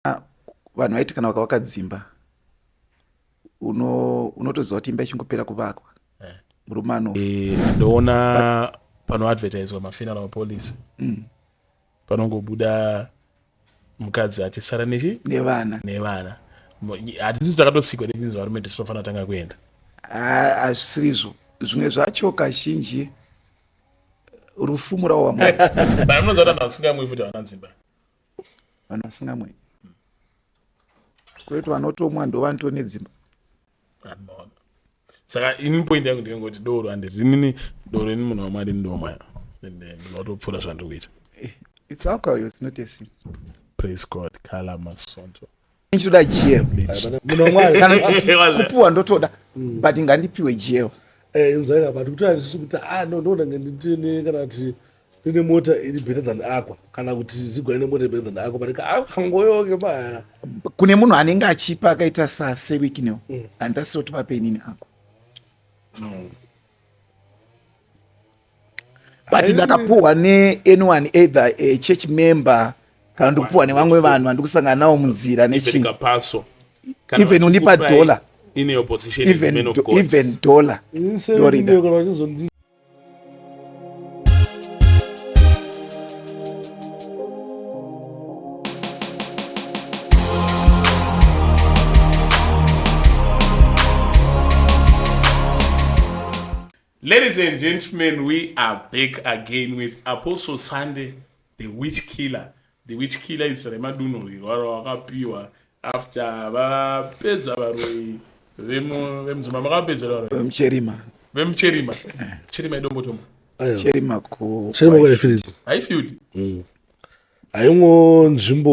Ah, vanhu vaiti kana vakavaka dzimba unotoziva kuti imba ichingopera kuvakwa eh. murume ano eh, ndoona panoadvertiswa mafinal mapolice mm. panongobuda mukadzi achisara nechi nevana nevana hatisi takatosikwa netinzi varume tisu tofanira tanga kuenda hazvisirizvo zvimwe zvacho kazhinji rufu murawo wamwari bana munonzi vanhu vasingamwi futi havana dzimba vanhu vasingamwi kwete vanotomwa ndovanto nedzimba saka ini point yangu ndiyengoti doro handi rinini doro ini munhu wamwari ndomwa and eh, ndinotopfuura zvandiri kuita eh, it's alcohol it's not a sin praise god kala masondo ndichitoda jeo kupuwa ndotoda mm. but ngandipiwe jeo eh, inzwaika but kutaura ndisu kuti ah no ndoda nganditine kana kuti ndine mota iri better than akwa kana kuti zigwa ine mota better than akwa but akangoyoke ah, paya kune munhu anenge achipa akaita sa seweek no mm. andasiro tipapenini akwa mm. but ndakapuhwa neanyone either eh, church member kana ndikupuhwa nevamwe vanhu vandikusangana navo munzira nechinhu even undipa dollar even dollar Ladies and gentlemen, we are back again with Apostle Sunday, the witch killer. The witch killer is remadunhuriro aro wakapiwa after vapedza varoi vemudzimba makavapedza varoi vemucherima vemucherima cherima idombotombo cherima ku haifield mm. haingo nzvimbo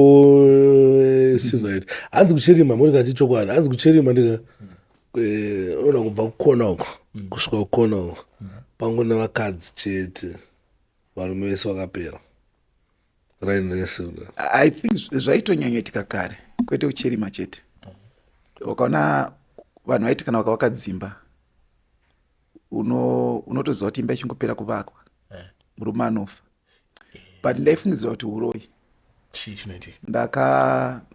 eh, sirit hanzi kuchirima moti kati chokwadi hanzi kuchirima ndika eh, ona kubva kukona uko kusvika kukona uko pangu nevakadzi chete varume vese vakapera raini rese i think zvaitonyanyoitika kare kwete uchirima chete wakaona vanhu vaiti kana vakavaka dzimba unotoziva kuti imba ichingopera kuvakwa eh. murume anofa but ndaifungidzira kuti uroyi chii chinoitika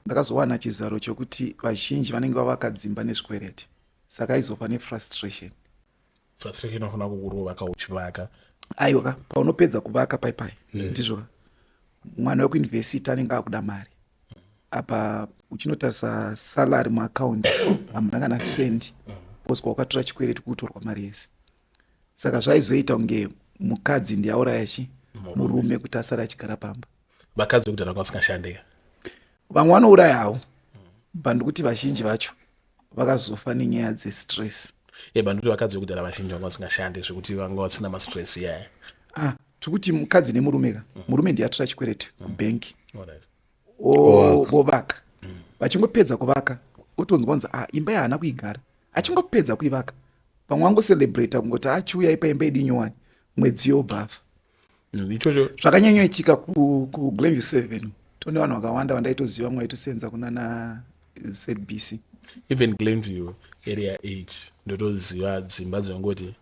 ndakazowana chizaro chokuti vazhinji vanenge vavaka dzimba nezvikwereti saka aizofa nefrustration frustration inofanira kukurova ka uchivaka aiwa ka paunopedza kuvaka paipai hmm. ndizvo mwana wekuinvesita anenge akuda mari apa uchinotarisa salary muaccount hamuna kana cent because kwawakatora chikwereti kutorwa mari yese saka zvaizoita kunge mukadzi ndiye auraya chi murume kuti asare achigara pamba vakadzi vekudhara vanga vasingashandika vamwe vanourayawo but ndikuti vazhinji vacho vakazofa nenyaya dzestress e bandikuti vakadzi vekudhara vazhinji vanga vasingashande zvekuti vanga vasina mastress iyaya ah, tikuti mukadzi nemurume ka mm. murume ndiye atora chikwereti mm. kubhenki vovaka mm. vachingopedza kuvaka otonzwa kunzi ah, imba yahaana kuigara achingopedza kuivaka pamwe wangocelebrata kungoti achiuya ah, ipa imba yedu nyowani mwedzi yobhafa mm, ichocho mm, zvakanyanyoitika kuglenview seven tone vanhu vakawanda vandaitoziva vamwe vaitosenza kunana zbc even glenview area eight ndotoziva dzimba dzangoti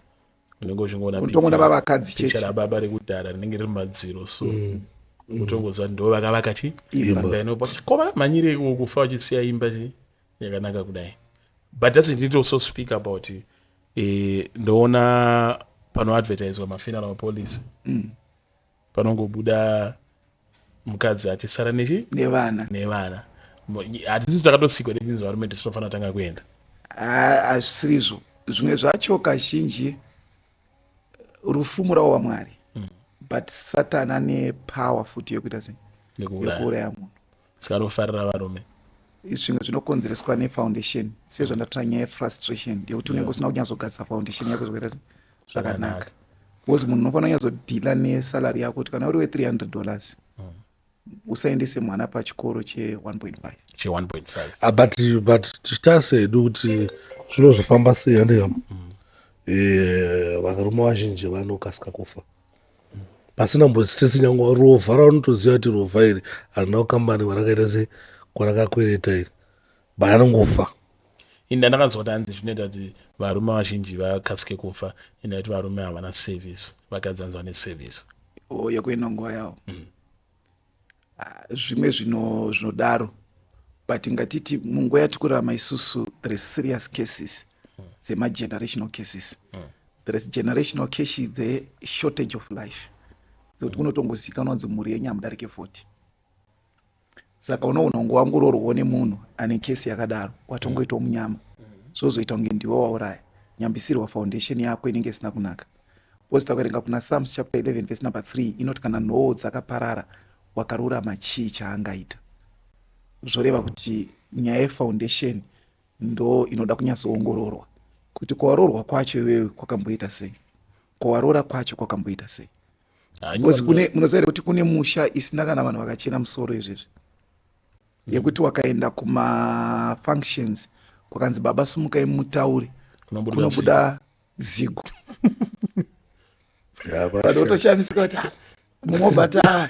unenge uchingoonatongona vavakadzi chete baba rekudhara rinenge riri madziro so mm. utongoziva ndo vakavaka chi imba inopa chikoma manyire ikuwo kufa uchisiya imba chi yakanaka kudai but that's it need also speak about it eh, ndoona panoadvertiswa mafinal mapolice mm. panongobuda mukadzi achisara nechi nevana nevana hatisi takatosikwa nechinzi varume tisinofanira tanga kuenda hazvisirizvo zvimwe zvacho kazhinji rufu murawo wamwari mm. but satani ane power futi yekuita sei yekuuraya munhu saka anofarira varume zvimwe zvinokonzereswa nefoundation sezvandatira nyaya yefrustration yekuti unenge usina kunyatsogadzisa foundation yako zvokuita zvakanaka bcause munhu unofanira kunyatsodhila nesalary yako kuti kana uri we300 dollars mm. usaendese mwana pachikoro che1.5 che1.5 ah, but but tichitase hedu kuti zvinozofamba sei handiham mm. eh, varume vazhinji vanokasika kufa pasina mbonzi tese nyangwa rovha raunotoziva kuti rovha iri harina kukambani kwarakaita se kwarakakwereta iri but anongofa inda ndakanzwa kuti hanzi zvinoita kuti varume vazhinji vakasike kufa inda kuti varume havana service vakadzi vanzi vane service oh, yekuenda nguva yavo mm. ah, zvimwe zvino zvinodaro but ngatiti munguva yatikurarama isusu there is serious cases dzemagenerational cases mm. there is generational case the shortage of life sekuti mm. kunotongozikanwa kunzi mhuri yenyu hamudarike 40 saka unoona ungu wangu urorwo nemunhu ane kesi yakadaro watongoitwa munyama mm. zvozoita kunge ndiwe wauraya nyambisirwa foundation yako inenge isina kunaka Because takaverenga kuna Psalms chapter 11 verse number 3 inoti kana nhoo dzakaparara wakarurama chii chaangaita. Zvoreva kuti nyaya yefoundation ndo inoda kunyatsoongororwa kuti kwawaroorwa kwacho iwewe kwakamboita sei, kwawaroora kwacho kwakamboita sei. Because kune munoziva here kuti kune musha isina kana vanhu vakachena musoro izvezvi mm. yekuti wakaenda kumafunctions kwakanzi baba sumukai mutaure kunobuda zigo vanhu votoshamisika kuti ah, mumwe obata ah,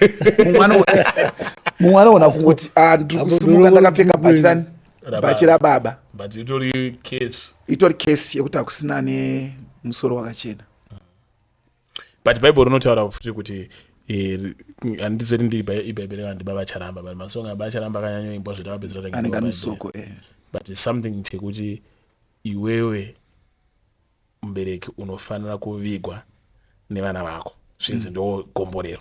mumwe anoona kuti ah, ndiri kusimuka ndakapfeka bhachi rani bhachi rababa but itori case itori case yekuti hakusina ne musoro wakachena but bible rinotaura futi kuti eh, handizoti ndiibhaibheri kana ndibaba charamba but masonga ababa charamba akanyanyoimbwa zvitavapedzera anenge anosoko eh. but something chekuti Iwewe mubereki unofanira kuvigwa nevana vako zvinzi mm. ndo gomborero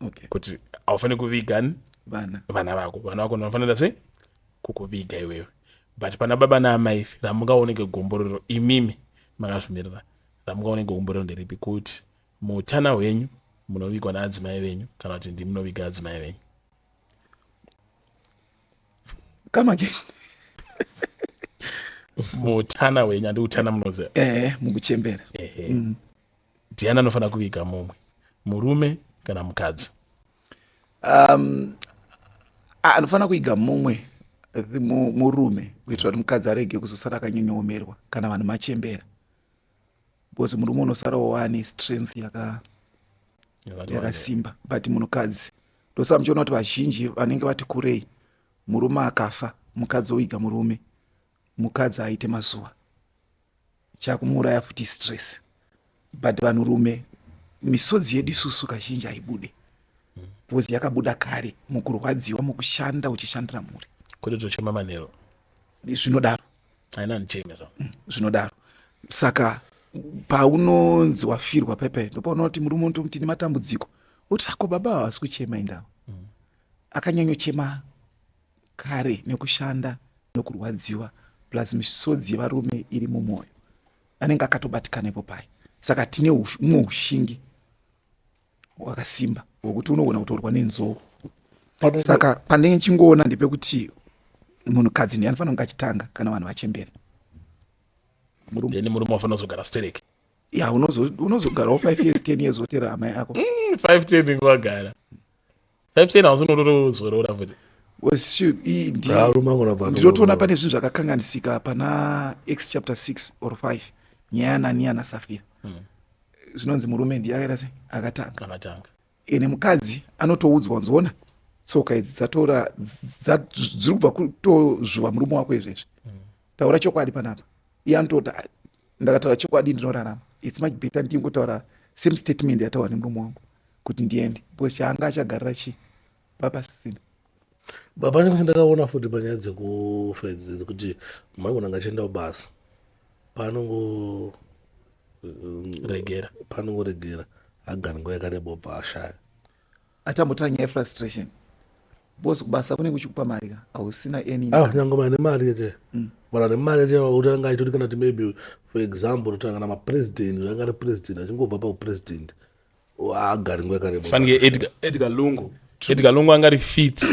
okay. kuti haufaniri kuviga vana vana vako vana vako ndinofanira sei kukuviga iwewe but pana baba naamai ramungaoneke gomborero imimi makazvimirira ramungaoneke gomborero nderipi kuti muutana hwenyu munovigwa naadzimai venyu kana kuti ndimunoviga adzimai venyu come again mutana wenyu andi utana munoziva eh mukuchembera ehe mm. ndiani anofanira kuviga mumwe murume kana mukadzi um anofanira kuiga mumwe murume kuitira kuti mukadzi arege kuzosara akanyonyoomerwa kana vanhu machembera because murume unosarawo waane strength yaka yakasimba but munhukadzi ndosaka muchiona kuti vazhinji vanenge vati kurei murume akafa mukadzi oiga murume mukadzi aite mazuva chakumuuraya futi stress but vanhurume misodzi yedu isusu kazhinji haibude because yakabuda kare mukurwadziwa mukushanda uchishandira mhuri kweto tochema manero zvinodaro haina ndicheme zva zvinodaro saka paunonzi wafirwa pepe ndopaunoona kuti murume unoto kuti nematambudziko uti ako baba havasi kuchema indawo mm. akanyanyochema kare nekushanda nokurwadziwa plus misodzi yevarume iri mumwoyo anenge akatobatikana ipo paye saka tine umwe ushingi wakasimba wekuti unogona kutorwa nenzou saka pandenge chingoona ndepekuti munhukadzi ndiye anofanira kunge achitanga kana vanhu vachembera then murume wafanira kuzogara stereki ya unozogarawo five years ten years wotera amai ako mm, five ten ingovagara Epstein hausi unotozorora futi. was shoot i- ndi- Varume angona bva- ndinotoona pane zvinhu zvakakanganisika pana x chapter 6 or 5 nyaya yanania nasafira zvinonzi murume ndiye akaita sei akatanga Akatanga. ene mukadzi anotoudzwa nzona tsoka idzi dzatora dza- dziri kubva kutozvuva murume wako izvezvi taura chokwadi panapa iye anototi "Ah, ndakataura chokwadi ndinorarama its much better ndingotaura same statement yataura nemurume wangu kuti ndiende because chaanga achagarira chii papasisina baba ndakaona futi panyaya dzekufaidzidzi kuti maigona ngachienda kubasa panongo um, regera panongoregera agara nguva yakareba ubva ashaya atambotora nyaya frustration bos kubasa kunenge uchikupa mari ka hausina any ah, nyange mane mari yete mm. kana nemari yete utanga aitoti kana ti maybe for example utanga kana mapresident utanga ari president achingobva paupresident agari nguva yakareba fanike edgar lungu edgar lungu anga ari fit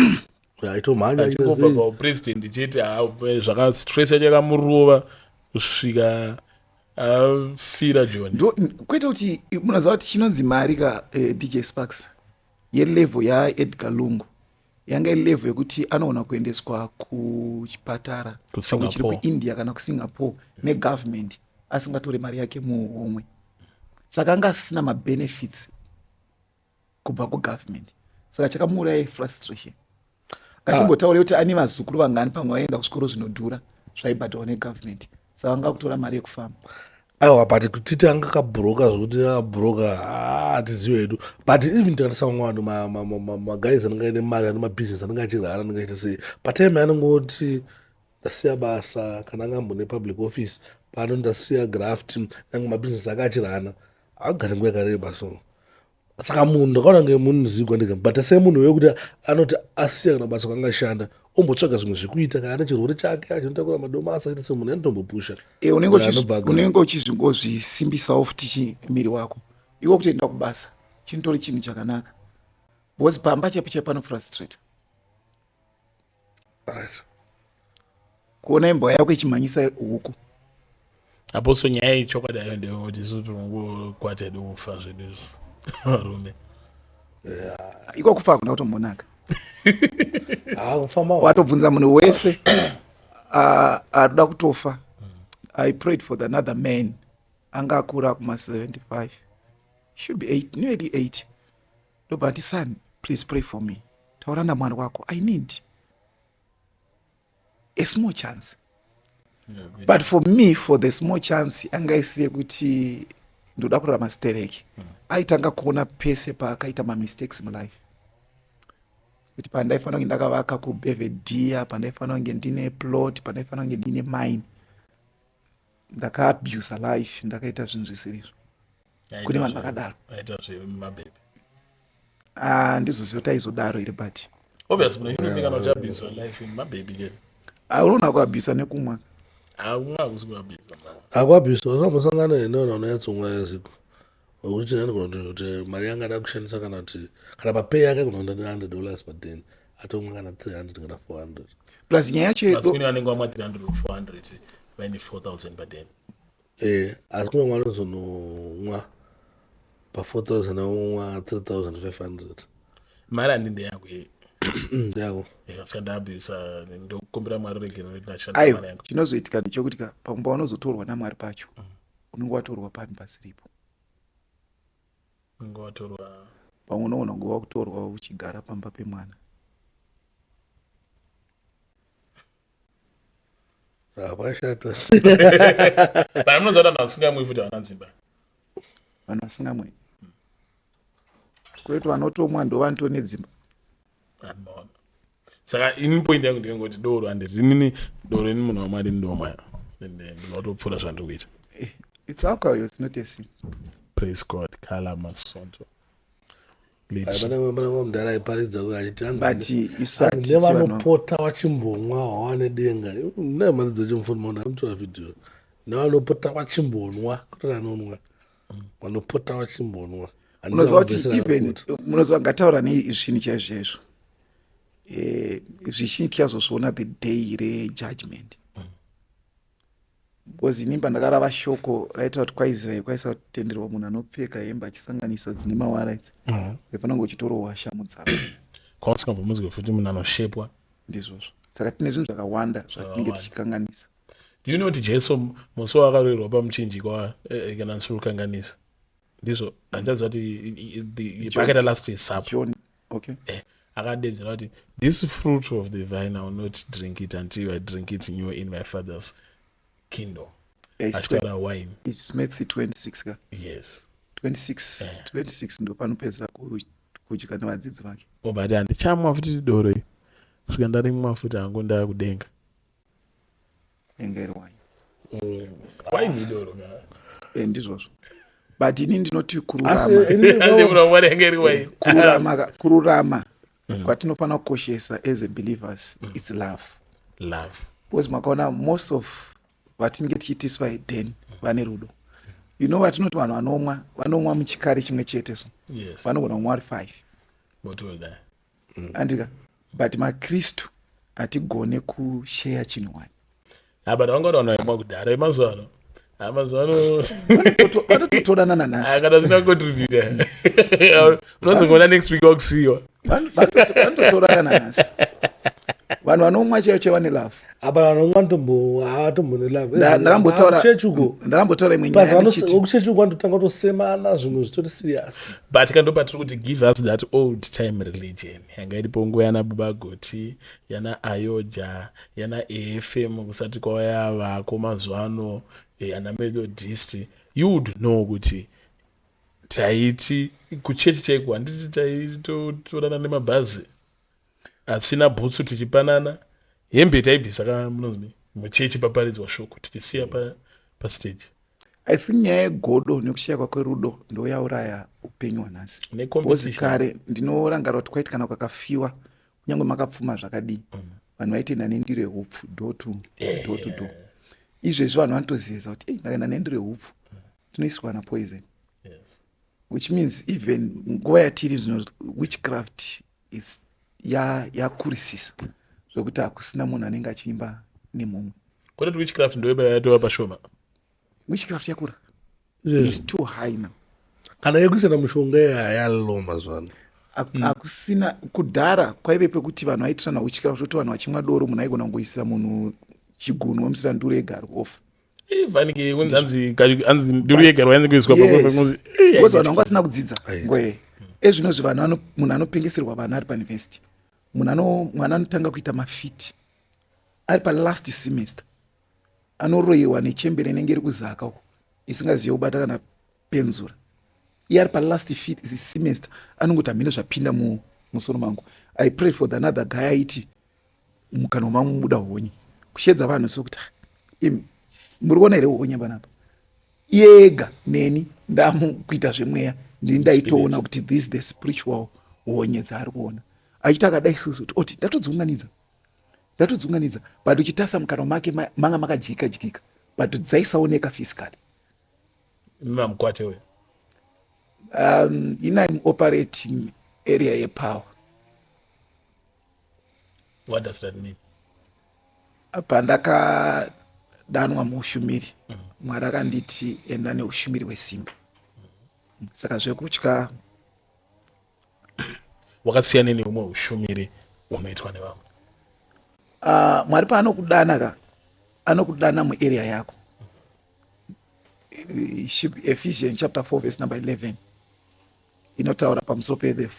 aitomhanya achingobva paupresident chete ah, zvakastress yachakamurova kusvika afira joni kwete kuti munoziva kuti chinonzi mari ka eh, dj sparks yelevel yaedgar lungu yanga ilevel yekuti anoona kuendeswa kuchipatara chiri kuindia kana kusingapore negovernment asingatore mari yake muhomwe saka anga asina mabenefits kubva kugovernment saka chakamuuraya frustration ngatimbotaure ah. kuti ane vazukuru vangani pamwe vaienda kuzvikoro zvinodhura zvaibhadharwa negovernment saka vanga kutora mari yekufamba aiwa but kutiti anga kabhuroka zvekuti abhuroka ah, hatizive hedu but even tikatisa vamwe vanhu magais anenge aine mari ane mabusiness anenge achirara anenge aita sei patime anongoti ndasiya basa kana anga ambone public office pano ndasiya graft nange mabusiness ake achirana agari nguva yakareba so saka munhu ndakaona nge munhu muzigwa ndega but sei munhu wekuti anoti asiya kana basa kwangashanda ombotsvaga zvimwe zvekuita kana ane chirwere chake achinotakura madomasa aita semunhu anotombopusha eh, unenge uchizvingozvisimbisawo futi miri wako iwe kutoenda kubasa chinotori chinhu chakanaka bcause pamba chaipo chaipo anofrustrate kuona imbwa yako ichimhanyisa huku aposo nyaya iyi chokwadi ayo ndeyekuti isu tinongokwata edu kufa zvedu izvi varume iko kufa hakuna kutombonaka ah, watobvunza munhu wese ah, arikuda kutofa i prayed for the another man anga akura kuma 75 should be 8 nearly 8 ndobva ati son please pray for me taura namwari wako i need a small chance but for me for the small chance anga isi yekuti ndoda kurara mastereki mm. aitanga kuona pese paakaita mamistakes mulife kuti pandaifanira kunge ndakavaka kubevedia pandaifanira kunge ndine plot pandaifanira kunge ndine mine ndakaabusa life ndakaita zvinhu zvisirizvo kune vanhu vakadaro aita zvemabebe ah, ndizoziva kuti aizodaro here but obvious kune chimwe mbingano chabhisa life mabebe ke ah, unoona kuabhisa nekumwa akuabhisa unombosangana neneona unonyatsomwa yaziko wekuti china ndigonoti kuti mari yanga ada kushandisa kana kuti kana mapay yake kunoenda ne100 dollars paden atomwa kana 300 kana 400 plus nyaya yacho anenge wamwa 300 or 400 vaine 4000 paden eh asi kune mwana uzonomwa pa 4000 aunwa 3500 mari handi ndeyako ye ndeyako ndikasika ndabisa ndokumbira mwari regero aiwa chinozoitika ndechokuti ka panguva unozotorwa namwari pacho mm. unenge watorwa pani pasiripo unenge watorwa pamwe unoona kunge wakutorwa uchigara pamba pemwana hapashata But munoziva kuti vanhu vasingamwi futi havana dzimba. vanhu vasingamwe kwete vanotomwa ndo vanto nedzimba Anoona. Saka ini point yangu ndeyongoti doro handiti inini doro ini munhu wamwari ini ndomwaya. And eh, ndinotopfuura zvandiri kuita. it's alcohol it's not a sin Praise God. Kala masonto. mudhara aiparidza uyo achitinevanopota vachimbonwa wawane denga naye mari dzochimufonimaona anotora vhidhiyo nevanopota vachimbonwa kutori anonwa vanopota vachimbonwa unoziva kuti even munoziva ngataura nezvinhu chaizvo chaizvo eh, zvichinhu tichazozviona the day rejudgment because ini pandakarava shoko raitaura kuti kwaisraeri kwaisava kutenderwa munhu anopfeka hembe achisanganisa dzine mawara idzi mm-hmm. vepanange uchitorohwa shamu dzavo kwausingabvomuzwe futi munhu anoshepwa ndizvozvo saka tine zvinhu zvakawanda zvatinenge tichikanganisa do you know kuti jesu musi waakaroirwa pamuchinjikwa eh, eh, kana nsurukanganisa ndizvo handichaziva kuti pakaita last supper okay eh, akadedzera kuti this fruit of the vine i will not drink it until i drink it new in my father's kingdom eh, achitaura wine its matthew 26 ka yes 26 eh. 26 ndo panopedza kudya nevadzidzi vake obati oh, handichamwa futi doro i kusvika ndarimwa futi hangu ndava kudenga nyengerwai eh, ndizvozvo but ini ndinoti kururama mm. kwatinofanira kukoshesa as a believers mm. its love love because makaona most of vatinenge tichiitiswa eden mm. vane rudo you know vatinoti vanhu vanomwa vanomwa muchikari chimwe chete so vanogona kumwa vari five mm. andika but makristu hatigone kusheya chinhu wani but vanga taona imwa kudhara yemazuva ano amazvanototorana nanasiakada zina contributa unozongoona next week wakusiyiwa vanototorana nanasi vanhu vanomwa chaiyo chevane love hapana nomwe anotomboatombonelavekuchechi uko ndakambotaura imwe nyayavekuchechi uko anototanga kutosemana zvinhu zvitori serious but ka ndopatiri kuti give us that old time religion yanga iripo nguva yana buba goti yana ayoja yana efm kusati kwavaya vako mazuva ano eh, ana methodist you would know kuti taiti kuchechi chaiko handiti taitotorana nemabhazi Hatisina bhutsu tichipanana hembe taibvisa kana munonzi muchechi paparidzwa shoko tichisiya pa, pastage i think nyaya yegodo nekushaya kwakwe rudo ndo yauraya upenyu hwanhasi bcoz kare ndinorangarira kuti kwaiti kana kwakafiwa kunyange makapfuma zvakadii mm. vanhu vaitenda nendiro yeupfu do to eh, do to do eh. izvezvi vanhu vanotoziyeza kuti ei ndakaenda nendiro yeupfu tinoisirwa na poison which means even nguva yatiri zvino witchcraft yakurisisa ya zvekuti hakusina munhu anenge achiimba nemumwe kwete witchcraft ndoiba yatova pashoma witchcraft yakura is too high now kana yekusina mushonga yayalo mazuva ano hmm. hakusina kudhara kwaive pekuti vanhu vaitirana witchcraft kuti vanhu vachimwa doro munhu aigona kungoisira munhu chigunwe musira nduro egarwa ofa fanike kunzi anzi anzi nduru yega rwainzi kuiswa pakuzi because vanhu vanga vasina kudzidza ngoe ezvino zvi vanhu munhu anopengeserwa vana ari pauniversity munhu ano mwana anotanga kuita mafiti ari palast semester anoroyewa nechembere inenge iri kuzaka uko isingazive kubata kana penzura iye ari palast fit is semester anongoti hamene zvapinda mu musoro mangu i pray for the another guy aiti mukana wamamwe muda honye kushedza vanhu sokuti ah, im muri kuona here honye panapa iye ega neni ndamukuita zvemweya ndini ndaitoona kuti this the spiritual honye dzaari kuona achiti akadai sozoti oti ndatodziunganidza ndatodziunganidza but uchitasa mukana make manga makadyika dyika but dzaisaoneka physically mamukwate uyo um, ina im operating area yepower what does that mean pandakadanwa muushumiri mm. mwari akanditi enda neushumiri hwesimba mm. saka zvekutya wakasiyana neumwe ushumiri unoitwa nevamwe uh, mwari paanokudana ka anokudana muarea yako ephesians chapter 4 verse number 11 inotaura pamusoro pethe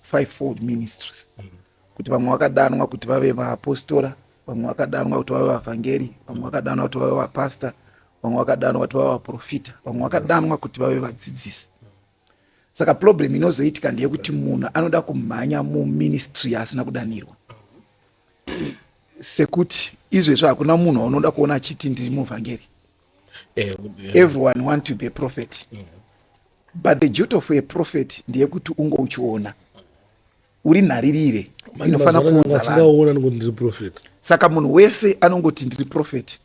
fivefold ministries mm. kuti vamwe vakadanwa kuti vave vaapostora vamwe vakadanwa kuti vave vavhangeri vamwe vakadanwa kuti vave vapasta vamwe vakadanwa kuti vave vaprofita vamwe vakadanwa kuti vave vadzidzisi saka problem inozoitika ndeyekuti munhu anoda kumhanya muministry yaasina kudanirwa sekuti izvezvi hakuna munhu waunoda kuona achiti ndiri muvhangeri eh, everyone want to be a prophet mm. but the duty of a prophet ndeyekuti unge uchiona uri nharirire inofanira kuunza saka munhu wese anongoti ndiri prophet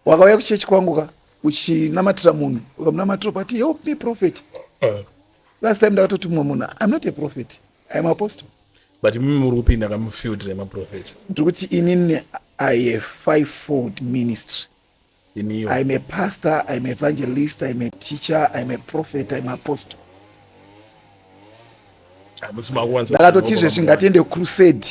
wakauya kuchechi kwangu ka uchinamatira munhu ukamunamatira ukati help me prophet eh. last time ndakatoti mumwe munhu im not a prophet im apostle but mimi muri kupinda kamufield remaprofet ndiri kuti inini i a five fold ministry Iniyo. I'm a pastor, I'm an evangelist, I'm a teacher, I'm a prophet, I'm an apostle. Ah, Ndakatotizve zvingatiende crusade,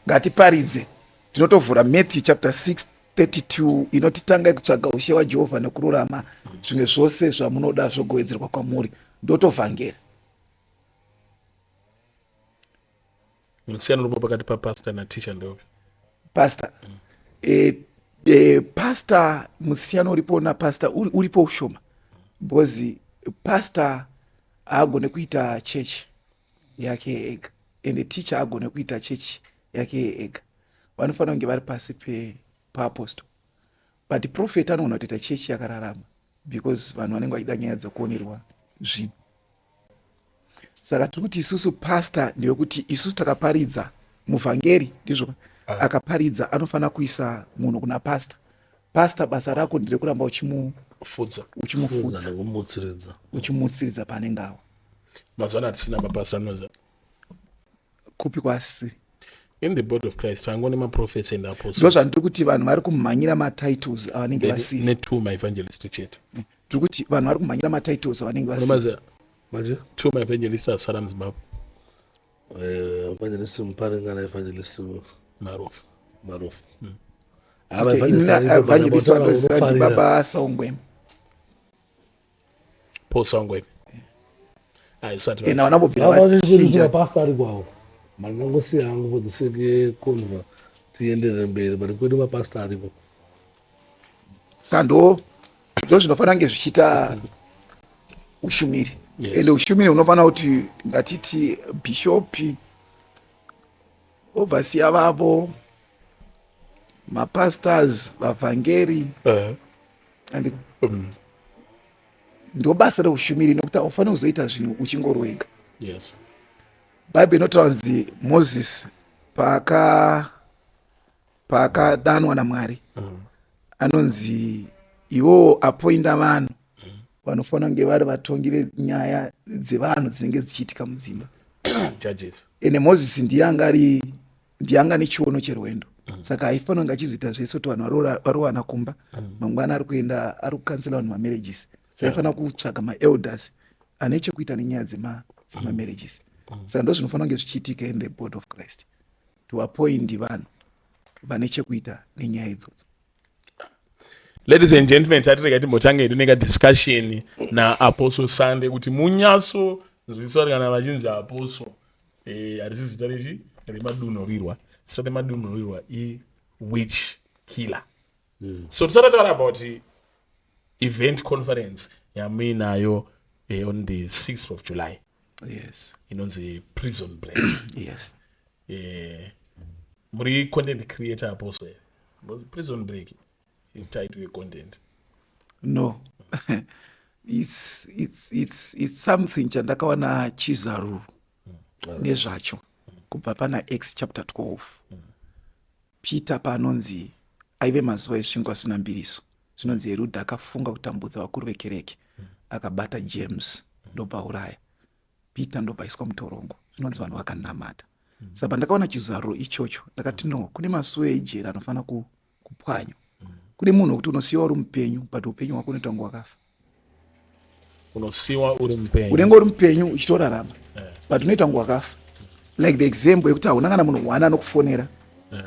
ngatiparidze. Tinotovhura Matthew chapter 6 32 inoti tangai kutsvaga ushe wajehovha nekururama zvimwe zvose zvamunoda zvogowedzerwa kwamuri ndotovhangeri musiyano unoba pakati papastor nateacher ndeopi pastor mm. e, e, pastor musiyano uripo napastor uri, uripo ushoma because pastor haagone kuita chechi yake ega ende ticha agone kuita chechi yake ega vanofanira kunge vari pasi paapostle but profet anogona kutoita chechi yakararama because vanhu vanenge vachida nyaya dzakuonerwa zvinhu saka tiri kuti isusu pastor ndewekuti isusu takaparidza muvhangeri ndizvo ah. akaparidza anofanira kuisa munhu kuna pastor pastor basa rako nderekuramba uchimufudza uchimufudza uchimutsiridza paanenge awa mazwana hatisina mapastor anoza kupi kwasiri in the body of christ tangone maprofets and apostles ndo zvandiri kuti vanhu vari kumhanyira matitles avanenge vasiri netwo maevangelist chete mm. tiri kuti vanhu vari kumhanyira matitles avanenge vasiri manje two maevangelist asara muzimbabwe eh, evangelist muparingana evangelist marofu marofu mm. ah, evangelist vanozira ndibaba saungwema posangweni aisatipastor ari kwawo mandangosiya hangu for the sake yeconver tienderere mberi but kwedu mapastor ariko sando ndo zvinofanira kunge zvichiita ushumiri yes. ende ushumiri hunofanira kuti ngatiti bishopi ovhasiya vavo mapastors vavhangeri uh -huh. and um, ndobasa reushumiri nokuti haufaniri kuzoita zvinhu uchingori wega yes bhaibheri inotaura kunzi moses paaka paakadanwa namwari mm. anonzi iwowo apoinda vanhu mm. vanofanira kunge vari vatongi venyaya dzevanhu dzinenge dzichiitika mudzimba judges ende moses ndiye anga ari ndianga nechiono cherwendo mm. saka haifanira kunge achizoita zvese kuti vanhu varowana kumba mm. mangwana ari kuenda ari kukansela vanhu mamarriages saifanira kutsvaga maelders ane chekuita nenyaya dzemamarriages mm. mm. saka ndo zvinofanira kunge zvichiitika in the board of christ to appoint vanhu vane chekuita nenyaya idzodzo ladies and gentlemen tatirega timbotange hedu nekadiscussion naapostle sunday kuti munyatso nzwisisari kana vachinzi apostle eh, harisi e, zita rechi remadunhurirwa zita remadunhurirwa iwitch killer mm. so tisati taura about event conference yamuinayo eh, on the 6th of july yes inonzi prison break yes eh muri content creator apo so prison break title ye content no it's it's it's it's something chandakawana chizaru mm. nezvacho kubva pana x chapter 12 mm. Peter paanonzi aive mazuva esvingo asina mbiriso, zvinonzi Heruda akafunga kutambudza vakuru vekereke, akabata James ndobva auraya Peter ndobva aiswa mutorongo. Zvinonzi vanhu vakanamata. Saka pandakaona chizaruro ichocho ndakati no, kune masuwo ejeri anofanira kupwanywa. Kune munhu wekuti unosiyiwa uri mupenyu but upenyu hwako unoita kunge wakafa. unosiwa uri mupenyu unenge uri mupenyu uchitorarama eh. but unoita kunge wakafa like the example yekuti hauna kana munhu one anokufonera eh.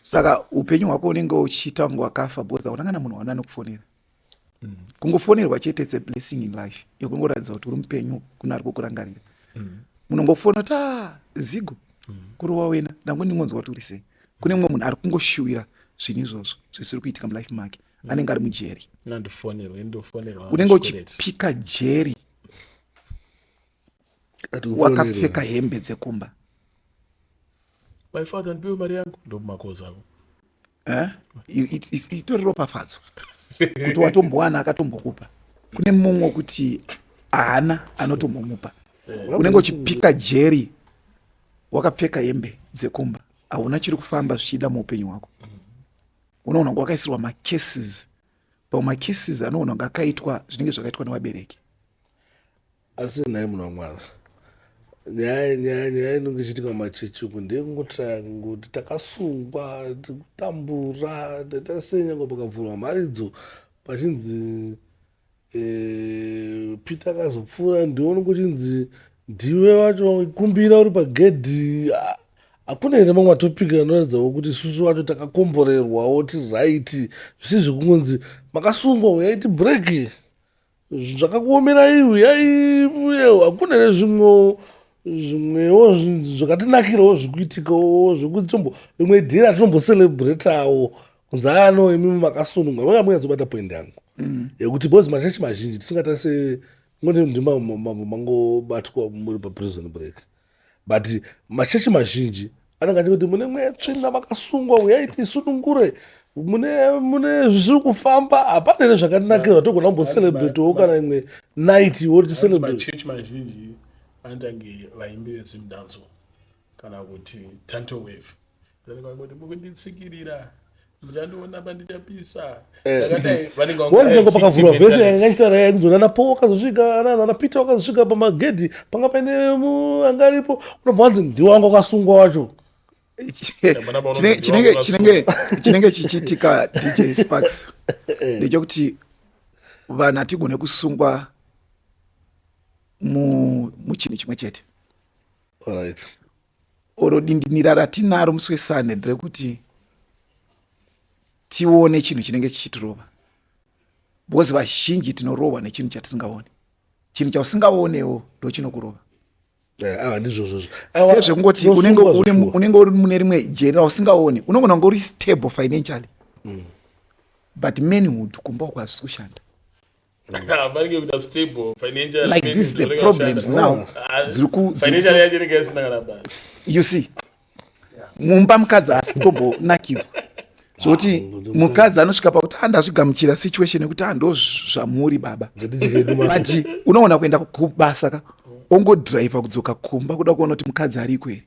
saka upenyu hwako unenge uchiita kunge wakafa because hauna kana munhu one anokufonera mm. kungofonerwa chete its a blessing in life yekungoratidza kuti uri mupenyu kune ari kukurangarira mm. munongofona kuti ah, zigo mm. kurova wena ndango ndingonzwa kuti uri sei kune mumwe munhu ari kungoshuwira zvinhu izvozvo zvisiri kuitika mulife make mm. mm. anenge ari mujeri unenge uchipika jeri wakapfeka hembe dzekumba my father ndipiwe mari yangu ndomumakozavo eh? itori ropafadzo kuti watombowana akatombokupa kune mumwe wekuti haana anotombomupa eh. unenge uchipika jeri wakapfeka hembe dzekumba hauna chiri kufamba zvichiida muupenyu hwako unoona kunge wakaisirwa macases pamwe macases anoona kunge akaitwa zvinenge zvakaitwa nevabereki asi nhai munhu wamwana nyaya nyaya nyaya inenge ichiitika mumachechi uku ndeyekungotaya kungoti takasungwa tikutambura tatasenyango pakavhurwa mharidzo pachinzi Eh, Peter akazopfuura ndione kuchinzi ndiwe wacho kumbira uri pagedhi Ah, hakuna here mamwe matopic anoratidzawo kuti isusu wacho takakomborerwawo tiri right zvisi zvekungonzi makasungwa huyai tibreak zvakakuomerai huyai uyewo hakuna here zvimwewo zvimwewo zvinhu zvakatinakirawo zviri kuitikawo zvekuti tombo rimwe dhera tinombocelebratawo zano imi makasununga vanga munyatsobata point yangu mm. yekuti bcause machechi mazhinji tisingatarise mangobatwa muri paprison break but machechi mazhinji anenge achiti kuti mune mwetsvina makasungwa uyai tisunungure mune mune zvisiri kufamba hapana here zvakanakira zvatogona kumbocelebratowo kana imwe night woti celebrate machechi mazhinji anotange vaimbi vedzimdanzo kana kuti tanto wave vanenge mukunditsikirira muchandiona panditapisa eh. akadai vanenge wanzvengo pakavhurwa vhese yanga ichitaura yai kuzona ana paul wakazosvika ana ana peter wakazosvika pamagedhi panga paine anga aripo unobva wanzi ndiwo wanga wakasungwa wacho chinenge chichiitika dj sparks eh. ndechekuti vanhu hatigone kusungwa muchinhu chimwe chete Alright. Oro dindinira ratinaro musi weSunday nderekuti tione chinhu chinenge chichitirova because vazhinji tinorohwa nechinhu chatisingaoni chinhu chausingaonewo ndochinokurova Eh, ah, ndizvozvozvo Awa, sezvekungoti unenge tinosungwa une- zveshuwa. unenge uri mune rimwe jeri rausingaoni unogona kunge uri stable financially but manhood kumba uko hazvisi kushanda vanenge kuda stable financial like this the problems now ah, ziri ku financial yacho inenge isina kana basa you see mumba mukadzi haasi kutombonakidzwa zvokuti ah, mukadzi anosvika pakuti andazvigamuchira situation yekuti andozvamuri baba but unoona kuenda kubasa ka ongodriver kudzoka kumba kuda kuona kuti mukadzi ariko here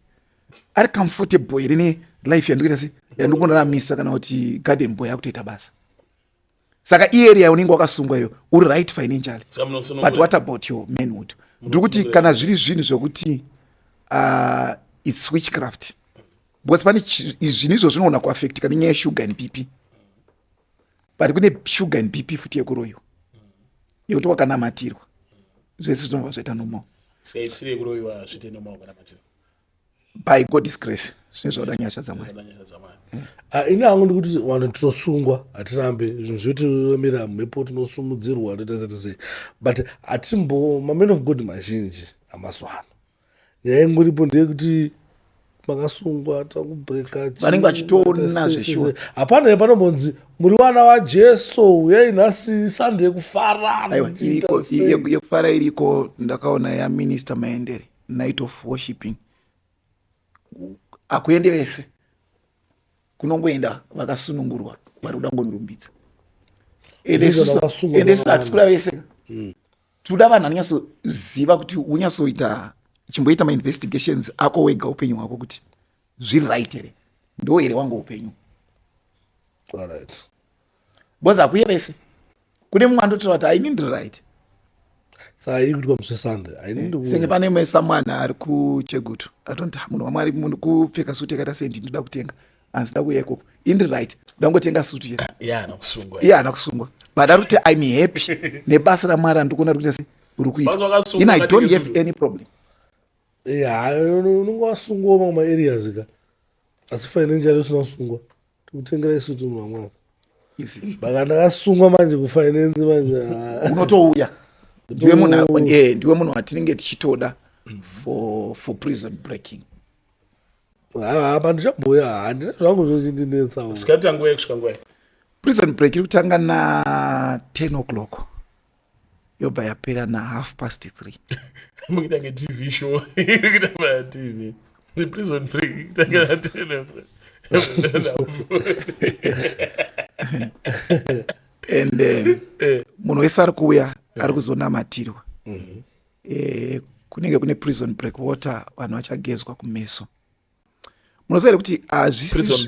ari comfortable here ne life yandikuita se yandikunoramisa kana kuti garden boy akutoita basa saka iarea unenge wakasungwa iyo uri right financially but what about your manhood ndiri kuti kana zviri zvinhu zvekuti uh, its switchcraft because pane zvinhu izvo zvinogona kuaffectika nenyaya yeshuga and bp but kune shuga and bp futi yekuroyiwa yekuti wakanamatirwa zvese zvinobva zvaita nomao by god's grace zvinenge zvauda nyasha dzamwari ah, ini hangu ndikuti vanhu tinosungwa hatirambe zvinhu zvetiomera mhepo tinosumudzirwa toita sati sei but hatimbo maman of god mazhinji amazuva ano nyaya ingoripo ndeyekuti makasungwa takubreka vanenge vachitoona zveshuwa hapana ye panombonzi muri vana vajesu uyai nhasi sande yekufara yekufara iriko ndakaona yaminista maendere night of worshipping akuende vese kunongoenda vakasunungurwa vari kuda ngonirumbidza ende isu hatisi kuda vese hmm. tinoda vanhu anonyatsoziva kuti unyatsoita chimboita mainvestigations ako wega upenyu hwako kuti zviri right here ndo here wangu upenyu All right. because hakuye vese kune mumwe andotaura kuti i need right senge pane imwe samwana ari kuchegutu atonti ah, munhu wamwari munhu kupfeka suti yakaita sendi ndinoda kutenga anzida kuya ikoko indi right ndangotenga sutu ye iye haana kusungwa but ari kuti im happy nebasa ramwari andikuona rikuita se uri kuita in i don't have any problem unonge wasungwa mamwe maareas ka asi financial usina kusungwa tikutengera isu tunhu vamwana baka ndakasungwa manje kufinance manje unotouya ndiwe munhu eh, ndiwe munhu watinenge tichitoda for, for prison breaking hapa ndichabhuya handina zvangu zvochindinetsa sikati tanguya kusvika nguva prison break iri kutanga na 10 o'clock yobva yapera na half past three mukuita nge tv show iri kuita pa tv the prison break ikuita nge na tena and eh, eh. munhu wese ari kuuya ari kuzonamatirwa mhm. eh, kunenge kune prison break water vanhu vachagezwa kumeso munoziva here kuti hazvisiyes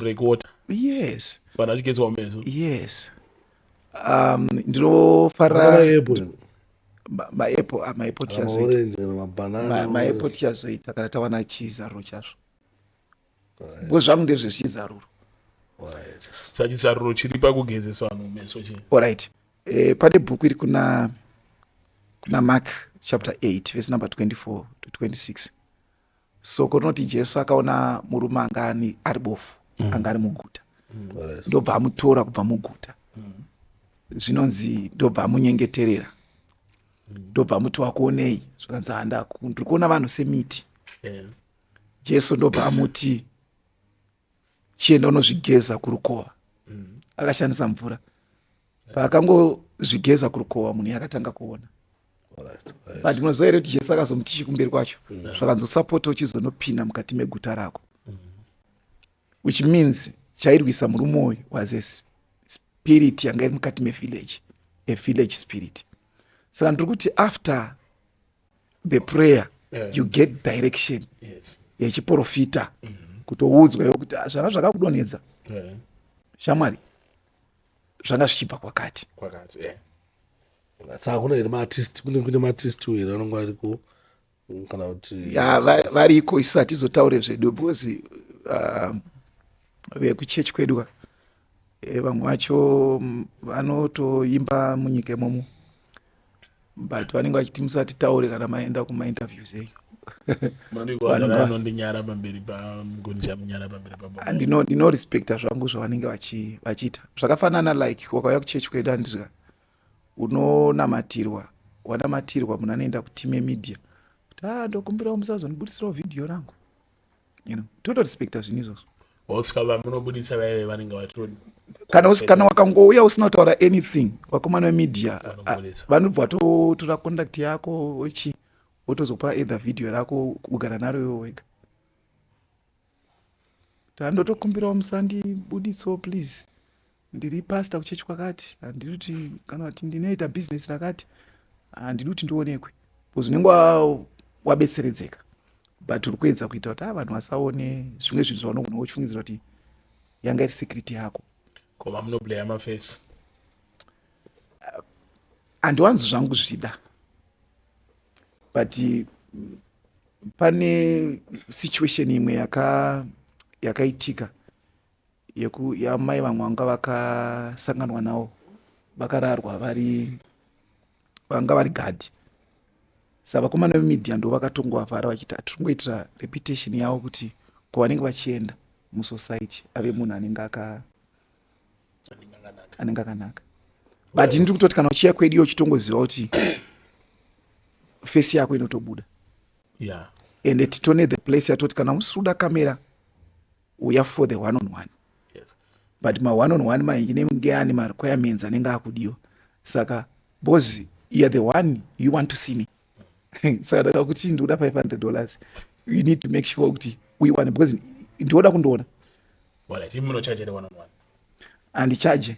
yes um, ndinofarira maepo tiazoitamaepo tiazoita kana tawana chizaruro chazvo bcause zvangu ndezvezvizaruro saka chizaruro chiri pakugezesa vanhu meso chi orit eh, pane bhuku iri kuna kuna mark chapter 8 vese number 24 to 26 soko rinoti jesu akaona murume anga ani ari bofu mm. anga ari muguta mm. ndobva amutora kubva muguta mm. zvinonzi ndobva amunyengeterera mm. ndobva amuti wakuonei zvakanzi handa ndiri kuona vanhu semiti jesu ndobva amuti chienda unozvigeza kurukova akashandisa mvura paakangozvigeza kurukova munhu yakatanga kuona but unoziva here kuti jesu akazomuti chikumberi kwacho mm. zvakanzosapota uchizonopinda mukati meguta rako mm. which means chairwisa murume uyu was a spirit yanga iri mukati mevillage a village spirit saka ndiri kuti after the prayer yeah. you get direction yes. yechiprofita mm -hmm. kutoudzwa iwo kuti ah, zvanga zvakakudonhedza yeah. shamwari zvanga zvichibva kwakati kwakati yeah. saka kuna here maartist kune kune maartist uyo here anonga ariko kana kuti ya variko isu hatizotaure zvedu because um, vekuchechi kwedu eh, vamwe vacho mm, vanotoimba munyika imomo but vanenge vachiti musatitaure kana maenda kumainterviews eyu ndinorespecta zvangu zvavanenge vachiita zvakafanana like wakauya kuchechi kwedu andizva unonamatirwa wanamatirwa munhu anoenda kutime media kuti a ah, ndokumbirawo musazondibudisirawo vhidhiyo rangu you know totorespecta zvinhu izvozvo oscar vamunobudisa vaive vanenge vatoni kana usi kana wakangouya usina kutaura anything vakomana vemedia vanobva vatotora contact yako ochi wotozopa either video rako kugara naro iwe wega tandotokumbirawo musandibudiso please ndiri pastor kuchechi kwakati handidi kuti kana kuti ndinoita business rakati handidi kuti ndionekwe bcause unenge wabetseredzeka but uri kuedza kuita kuti a ah, vanhu vasaone zvimwe zvinhu zvaunogona uchifungidzira kuti yanga iri secret yako koma munoblaya mafesi ah, handiwanzi zvangu zvida but mm, pane situation imwe yaka yakaitika yeku yamai vamwanga vakasanganwa nawo vakararwa vari vanga vari gadhi sa vakomana vemedia ndo vakatongovavhara vachiti hatiringoitira reputation yavo kuti kwavanenge vachienda musociety ave munhu anenge aka anenge akanaka but ndiri kutoti kana uchiya kwedu iyo uchitongoziva kuti fesi yako inotobuda yeah. ende titone the place yatoti kana usiri kuda kamera uya for the one on one yes. but ma one on one mainenge ane marequirements anenge akudiwa saka bos youare the one you want to see me saka ndaka kuti ndikuda 500 dollars you need to make sure kuti uiwane because ndioda kundiona andichaje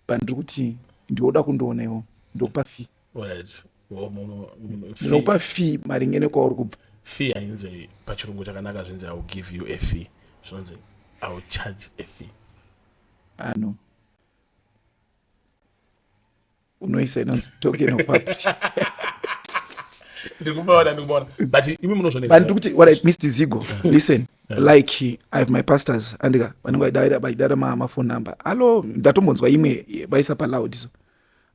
but ndiri kuti ndioda kundiona iwo ndokupa fee ndinokupa fee maringe nekwauri kubva fee hainzi pachirungu chakanaka zvinzi iwill give you a fee zvinonzi iwill charge a fee ano unoisa inonzi token of publishing ndikuti what i missed zigo listen like i have my pastors andika vanenge vaidara mafone number hallo ndatombonzwa imwe vaisa paloud so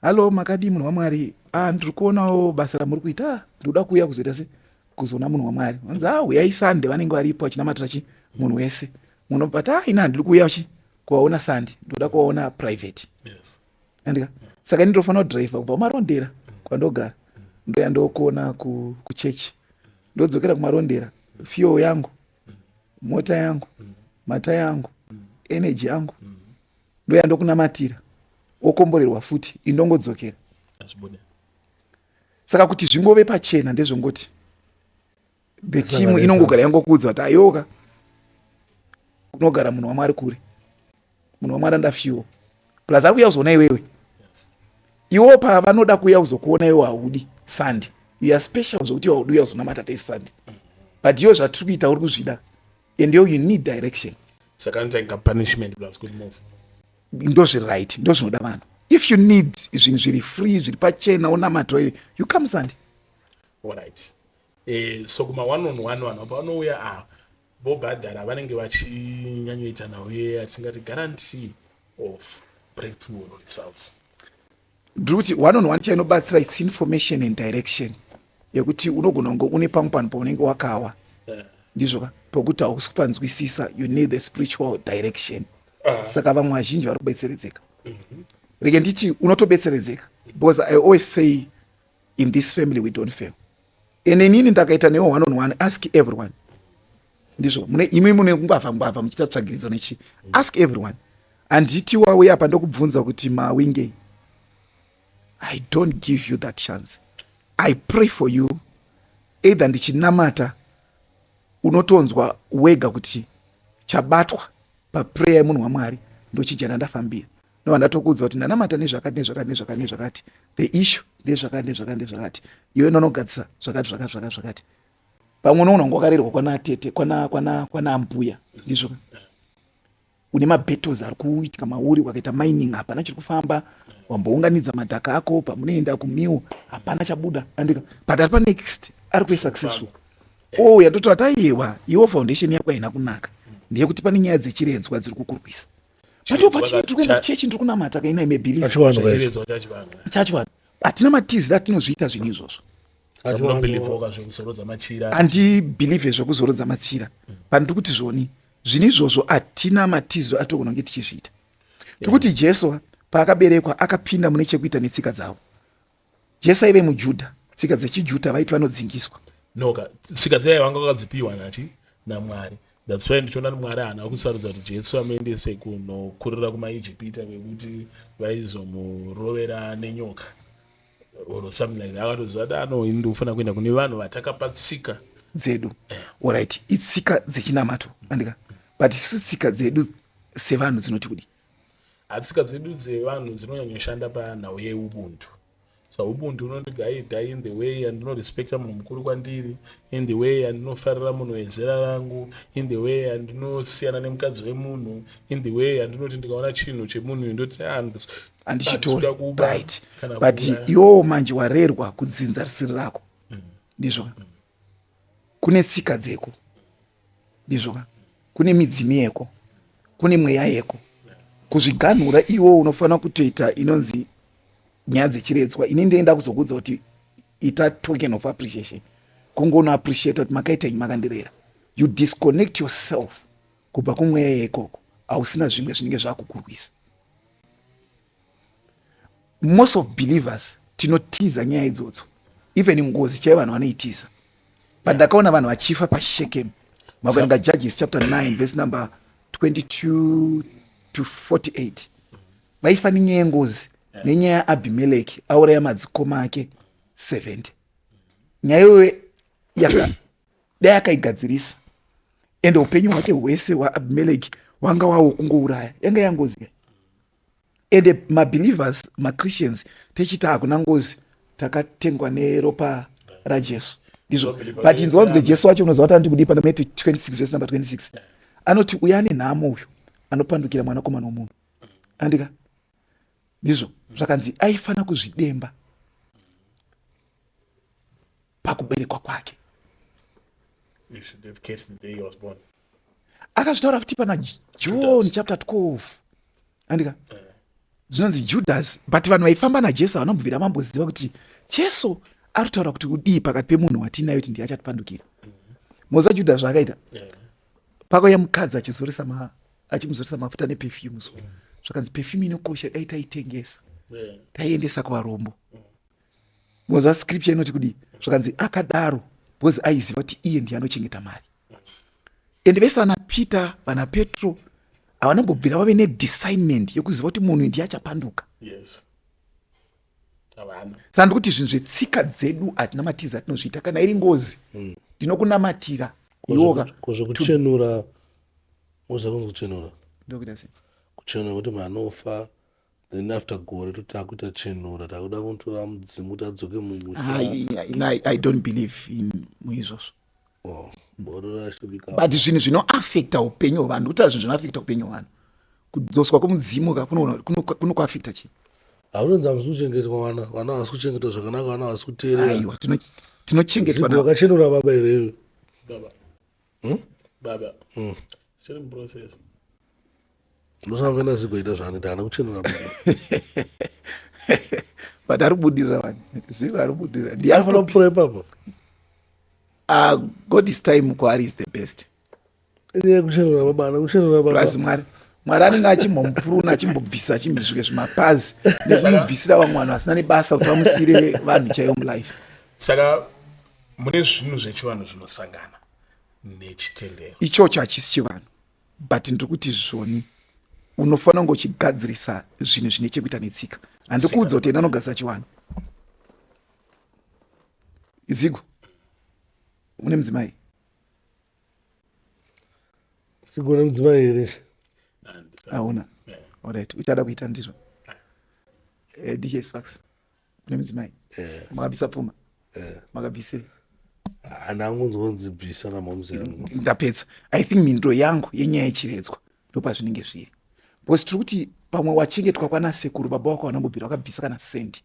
Hallo makadii munhu waMwari ah ndiri kuonawo basa ramuri kuita ah ndikuda kuuya kuzoita se kuzoona munhu waMwari vanzi ah huyai Sunday vanenge varipo vachinamatira chi munhu wese munhu but ah ina ndiri kuuya chi kuvaona Sunday ndikuda kuvaona private yes andika saka ini ndofanira kudriver kubva kumarondera kwandogara ndoya ndokuona kuchechi ndodzokera kumarondera fuel yangu mota yangu mata yangu energy yangu ndoya ndokunamatira wokomborerwa futi indongodzokera saka kuti zvingove pachena ndezvongoti the team inongogara yangokuudza kuti ayoka kunogara munhu wamwari kure munhu wamwari andafyuwo plus ari kuuya kuzoona iwewe iwo pavanoda kuuya kuzokuona iwe haudi sandi uya special zvokuti iwe haudi uya kuzonamata tei sandi but iwo zvatiri kuita uri kuzvida and yo you need direction saka nzenga punishment plus good move ndozviri right ndozvinoda vanhu if you need zvinhu zviri free zviri pachena onamato iwe you come sandi allright eh, so kuma one on one vanhu apa vanouya ah, vobhadhara vanenge vachinyanyoita nhau yeye atingati guarantee of breakthrough or results ndiri kuti one on one chainobatsira its information and direction yekuti unogona kunge une pamwe panhu paunenge wakawa eh. ndizvo ka pokuti hausi kupanzwisisa you need the spiritual direction ah. saka vamwe vazhinji vari kubetseredzeka mhm. rege nditi unotobetseredzeka because i always say in this family we don't fail ene inini ndakaita newo one on one ask everyone ndizvo mune imwe mune kungwavha ngwavha muchiita tsvagiridzo nechi ask everyone handiti wauya apa ndokubvunza kuti mawingei i don't give you that chance i pray for you either ndichinamata unotonzwa wega kuti chabatwa paprayer yemunhu wamwari ndochijana ndafambira no vanhu vatokuudza kuti ndanamata nezvakati nezvakati nezvakati nezvakati the issue ndezvakati nezvakati nezvakati iwe nonogadzisa zvakati zvakati zvakati zvakati pamwe unoona kunge wakarerwa kwana tete kwana kwana kwana ambuya ndizvo une mabattles ari kuitika mauri wakaita mining hapana chiri kufamba wambounganidza madhaka ako pamunoenda kumiwo hapana chabuda andika but ari panext ari kuve successful o yatoti ataiyewa iwo foundation yako haina kunaka ndeyekuti pane nyaya dzechiredzwa dziri kukurwisa patopatikuenda kuchechi ndiri kunamata kainai mebilivechachivanhu hatina matizira tinozviita zvinhu izvozvo handibhilivhe zvekuzorodza matsira pandiri kuti zvoni zvinhu izvozvo hatina matiziro atogona kunge tichizviita tiri kuti jesu paakaberekwa akapinda mune chekuita netsika dzavo jesu aive mujudha tsika dzechijudha vaiti vanodzingiswa noka tsika dzaiva vanga vakadzipiwa nati namwari that's why ndichiona kuti mwari haana kusarudza kuti jesu amuendese kunokurira kumaijipita kwekuti vaizomurovera nenyoka or something like that akatoziva kuti ano ini ndikufanira kuenda kune vanhu vatakapa tsika dzedu orit itsika dzechinamato andika but isu tsika dzedu sevanhu dzinoti kudi Tsika dzedu dzevanhu dzinonyanyoshanda panhau yeubuntu sa ubuntu unondigaidha in the way yandinorespekta munhu mukuru kwandiri in the way yandinofarira munhu wezera rangu in the way yandinosiyana nemukadzi wemunhu in the way yandinoti ndikaona chinhu chemunhu uyu ndoti ah, andichitori right but iwowo manje warerwa kudzinza risiri rako mm. ndizvona mm. kune tsika dzeko ndizvo ka kune midzimu yeko kune mweya yeko kuzviganhura iwo unofanira kutoita inonzi nyaya dzechiredzwa ini ndinoenda kuzokuudza kuti ita token of appreciation kungono appreciate kuti makaita nyi makandirera you disconnect yourself kubva kumweya yeikoko hausina zvimwe zvinenge zvakukurwisa most of believers tinotiza nyaya idzodzo even ngozi chaiyo vanhu vanoitiza but ndakaona vanhu vachifa pashekem makuerenga judges chapter 9 verse number 22 to 48 vaifa nenyaya yengozi nenyaya yaabhimeleki auraya madzikoma ake 70 nyaya iyoyo yaka dai akaigadzirisa ende upenyu hwake hwese hwaabhimeleki hwanga wawo kungouraya yanga yangozi ende mabelievers machristians techiti hakuna ngozi takatengwa neropa rajesu ndizvo but inzi wanzwe jesu wacho unoziva kuti anotikudipa na matthew 26 vese number 26 anoti uya ane nhamo uyu anopandukira mwanakomana womunhu andika ndizvo zvakanzi aifanira kuzvidemba pakuberekwa kwake akazvitaura futi pana john chapter 12 andika eh. zvinonzi judhasi but vanhu vaifamba najesu vanobvira mamboziva kuti jesu ari kutaura kuti udii pakati pemunhu watiinayo kuti ndiye achatipandukira moza judha zvaakaita pakauya mukadzi achizoresa achimuzoresa mafuta nepefyume zvakanzi pefyume inokosha dai taitengesa taiendesa kuvarombo moza scripture inoti kudii zvakanzi akadaro because aiziva kuti iye ndiye anochengeta mari and vese vana peter vana petro havanombobvira vave nedesignment yokuziva kuti munhu ndiye achapanduka yes saka ndikuti zvinhu zvetsika dzedu hatina matiza atinozviita kana iri ngozi hmm. ndinokunamatira iwokazvekuchenura moza kunzi kuchenura ndokuita sei kuchenura kuti manofa then after gore toti takuita chenura takuda kutora mudzimu kuti adzoke mumusha i don't believe in muizvozvo oh, but zvinhu zvinoafecta upenyu hwevanhu kuti zvinhu zvinoafecta upenyu hwevanhu kudzoswa kwemudzimu ka kunokuafecta chii haunonzi hamusi kuchengetwa vana vana havasi kuchengetwa zvakanaka vana havasi kuteerera tinochengetwa vakachenura baba here hmm? baba hmm. chiri muprocess ndosavena zigoita zvaanoita hana kuchenura but ari kubudirira vani zigo ari kubudirira ndiafana kupfuura ipapo ah, god is time kwaari is the best iye kuchenura baba hana kuchenura baba plus mwari mwari anenge achimbomupuruna achimbobvisa achimbisvike zvimapazi nezvinobvisira vamwe vanhu vasina nebasa kuti vamusire vanhu chaiyo mulife saka mune zvinhu zvechivanhu zvinosangana nechitendero ichocho hachisi chivanhu but ndiri kuti zvoni unofanira kunge uchigadzirisa zvinhu zvine chekuita netsika handikuudza kuti ena anogadzirisa chivanhu zigo une mudzimai zigo une mudzimai here hauna orit uchada kuita ndizvo eh, dj sparks kune mudzimai eh. makabvisa pfuma eh. makabvisei anangunzonzibvisa namamuzendapedza i think mindo yangu yenyaya yechiredzwa ndopazvinenge zviri because tiri kuti pamwe wachengetwa kwana sekuru baba wako vanambobvira wakabvisa kana sendi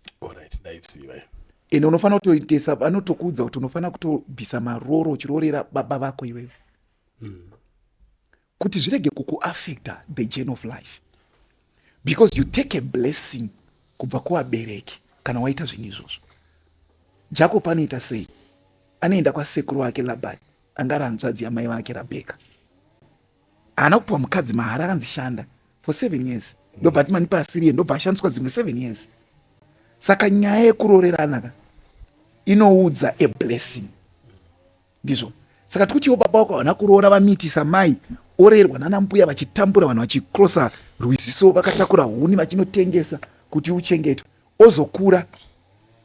ende unofanira kutoitesa vanotokuudza kuti unofanira kutobvisa maroro uchiroorera baba vako iweyo mm. kuti zvirege kukuaffecta the journey of life because you take a blessing kubva kuvabereki kana waita zvinhu izvozvo jacob anoita sei anoenda kwasekuru wake labani anga ari hanzvadzi yamai vake rabheka haana kupiwa mukadzi mahara akanzi shanda for seven years ndobati mani paasiriye ndobva ashandiswa dzimwe seven years saka nyaya yekurorerana ka inoudza a blessing Ndizvo saka tikutiwo baba wako havana kuroora vamiitisa mai orerwa nana mbuya vachitambura vanhu vachikrosa rwiziso vakatakura huni vachinotengesa kuti uchengetwe ozokura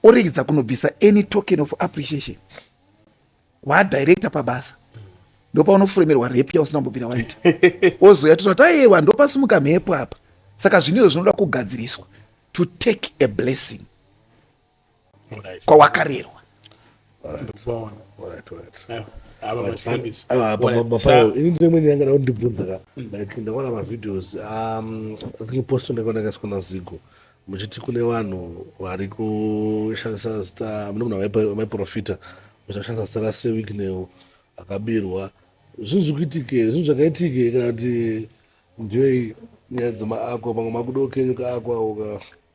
oregedza kunobvisa any token of appreciation waadirector pabasa ndopaunofuremerwa repu yausina kumbobvira waita ozoya tona kuti ayewa ndopasumuka mhepo apa saka zvinizvo zvinoda kugadziriswa to take a blessing kwawakarerwa ini ndimwe nyaya ngada kundibvunza ka like ndaona mavideos um, i think posto ndakaona kasikwa na zigo muchiti kune vanhu vari kushandisa zita mune munhu vaiprofita muchashandisa zita rasewicknel akabirwa zvinhu zvikuitike zvinhu zvakaitike kana kuti ndiyo nyaya dzemaakwa pamwe makudokenyuka akwa uka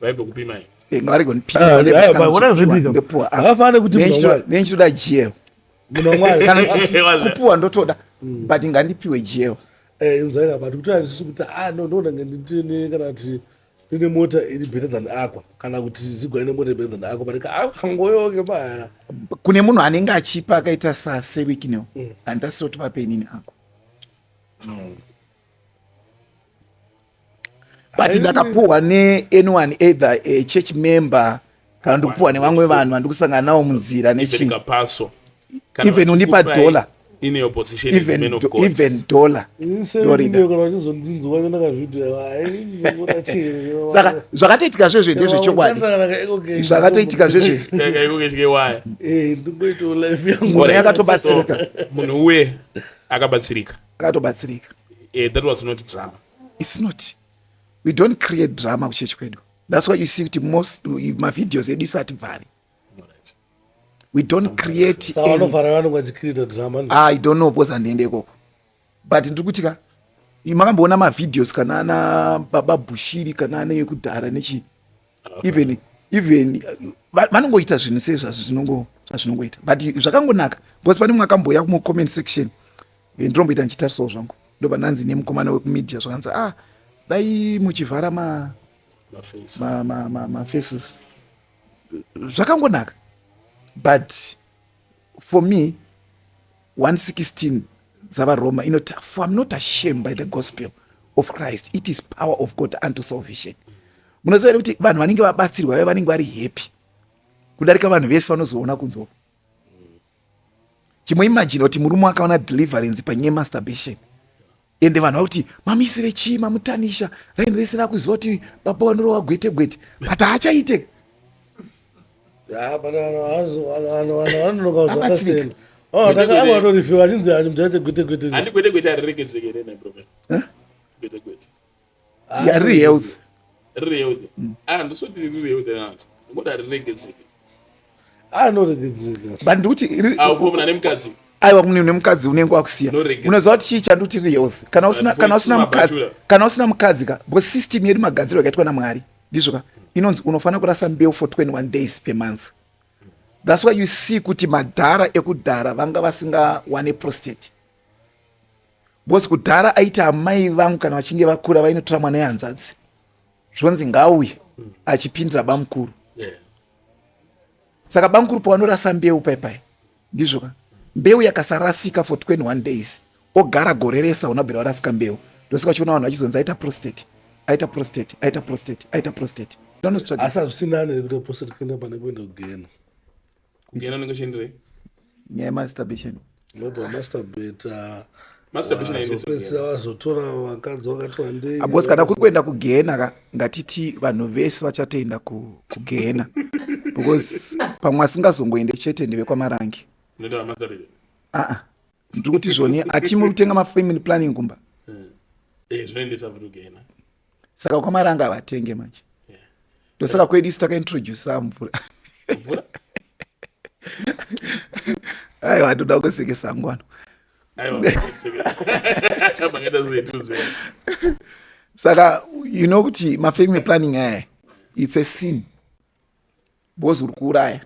vaigokupima here Eh, ngavarigonipiwa Ah, Vane- ah, kana vaona vachipiwa, zvoitika. ndopiwa, ah. Havafanire kuti Nei munhu ndichitoda- wamwari. nei ndichitoda jeo Munhu wamwari. kana kuti Wala. kupiwa ndotoda but ngandipiwe jeo Eh, inzwai apa ndikutoa ndisisu kuti ah no ndona ndine kana kuti ndine mota iri better than akwa kana kuti zigwa ine mota iri better than akwa panika ah kangoyoke paya kune munhu anenge achipa akaita sasevikino handasiro tipapenini ako but ndakapuhwa neanyone either eh, church member kana ndikupuhwa nevamwe vanhu vandikusangana navo munzira nechingapaswa even undipa dollar in your position even, as of God. Even dollar. Saka zvakatoitika zve zve ndezve chokwadi. Zvakatoitika zve zve. Ngore yakatobatsirika. Munhu uye akabatsirika. akatobatsirika eh, that was not drama it's not we don't create drama kuchechi kwedu that's why you see kuti most mavideos edu isati vhari we don't create i don't know because andiende ikoko but ndiri kuti ka makamboona mavideos kana ana baba bushiri kana ana ekudhara nechii even even vanongoita zvinhu sei zvazvinongoita but zvakangonaka because pane mumwe akamboya kumucomment section ndinomboita ndichitarisawo zvangu ndoba ndanzi nemukomana wekumedia zvakanzi ah dai muchivhara ma mafaces zvakangonaka but for me 116 dzavaroma inoti for im not ashamed by the gospel of christ it is power of god unto salvation munoziva here kuti vanhu vanenge vabatsirwa ve vanenge vari happy kudarika vanhu vese vanozoona kunzwa chimuimajina kuti murume akaona deliverance panyaya yemasturbation ende vanhu vakuti mamisire chii mamutanisha raini rese rakuziva kuti baba vanorova gwete gwete but haachaite ya riri health riri health mm. ah ndisoti riri health anati ngoda rirege dzeke ah no rege dzeke but ndikuti ah ukomna nemukadzi aiwa kune une mukadzi unenge wakusiya unoziva kuti chii chanduti riri health kana usina kana usina mukadzi kana usina mukadzi ka bo system yedu magadziro akaitwa na mwari ndizvo ka inonzi unofanira kurasa mbeu for 21 days per month thats why you see kuti madhara ekudhara vanga vasingawane prostate bcause kudhara aiti amai vangu kana vachinge vakura vainotora mwana yehanzvadzi zvonzi ngauye achipindira bamukuru saka bamukuru pavanorasa mbeu paipai ndizvo ka mbeu yakasarasika for 21 days ogara gore rese hauna bvira varasika mbeu ndosaka uchiona vanhu vachizonzi aita prostate aita prostate aita prostate aita prostate asi hazvisinani nekuita prostate kuenda pane kuenda kugena kugera unenge uchienderei nyaya yemasturbation nobva masturbata masturbation aendeswa pedzisira vazotora vakadzi vakati wandei abos kana kuri kuenda kugehena ka ngatiti vanhu vese vachatoenda ku- kugehena because pamwe asingazongoende chete ndevekwamarange unoita vamasturbation aa ndiri kuti zvoni ati muri kutenga mafamily planning kumba eh zvinoendesa futi kugena saka kwamari anga vatenge manje ndosaka kwedu isu takaintroducea mvura aiwa andoda kusekesa ngwano saka you know kuti mafamily planning aya its a sin bhozi uri kuuraya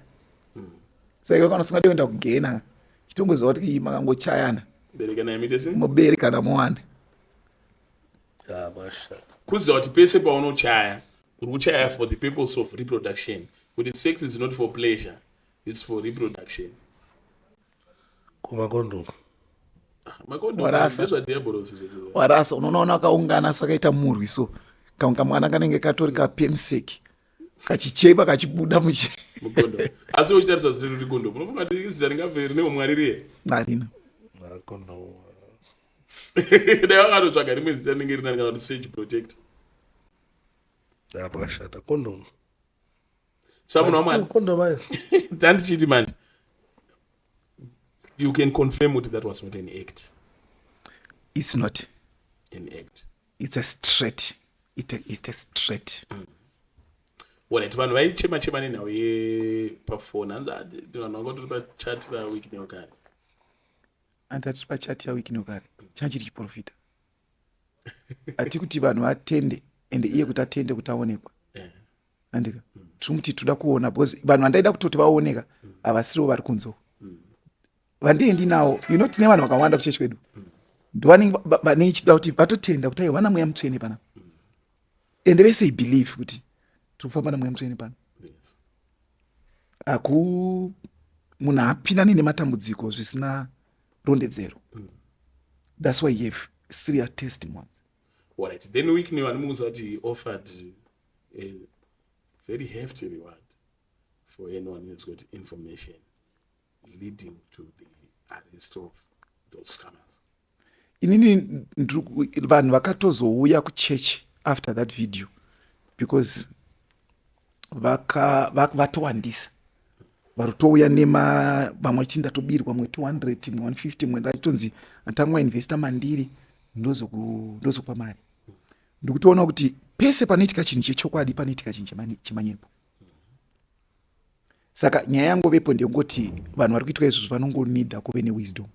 saka kana usingade kuenda kugena chitongoziva kuti makangochayana mubere kana muwanda kuziva kuti pese paunochaya uri kuchaya for the purpose of reproduction kuti sex is not for pleasure its for reproduction kumakondomu warasa unoona wakaungana so akaita murwi so kaunga mwana kanenge katori kapemseki kachichekwa kachibuda muchi mugondo asi uchitarisa zita rekuti gondo munofunga kuti zita ringave rine umwari riye harina dai vakatotsvaga rimwe zita rinenge rinani kana kuti sage protect pakashata kondom samunhu wamwari kondom ayo tandichiti manje you can confirm kuti that was not an act it's not an act it's a straight it's a, it's a straight mm. Wallet vanhu vaichema chema nenhau yepafoni hanzi ah, vanhu vanga tori pachat vawiki neokare hanzi atiri pachat yawiki neokare changa chiri chiprofita hati kuti vanhu vatende and iye kuti atende kuti aonekwa eh. andika mm. tiri kuti tinoda kuona bcause vanhu vandaida kutoti vaoneka mm. havasiriwo vari kunzoo vandiendi nawo you know tine vanhu vakawanda kuchechi kwedu ndovanenge vanenge chida kuti vatotenda kuti aiwana mweya mutsvene pana ende vese i believe kuti tiri kufamba namweya mutsvene pano haku munhu haapinani nematambudziko zvisina rondedzero mm. thats why yeve serious testimony right then weekney vanomuudza kuti offered a very hefty reward for anyone who's got information leading to the arrest of those scammers inini vanhu vakatozouya kuchechi after that video because vatowandisa varutouya nema vamwe vachiti ndatobirwa mwe 200 mwe 150 mwe ndaitonzi atangwa investa mandiri ndozokupa mari ndikutoona kuti pese panoitika chinhu chechokwadi panoitika chinhu chemanyepo saka nyaya yangovepo ndeyekuti vanhu vari kuitwa izvozvo vanongonida kuve newisdom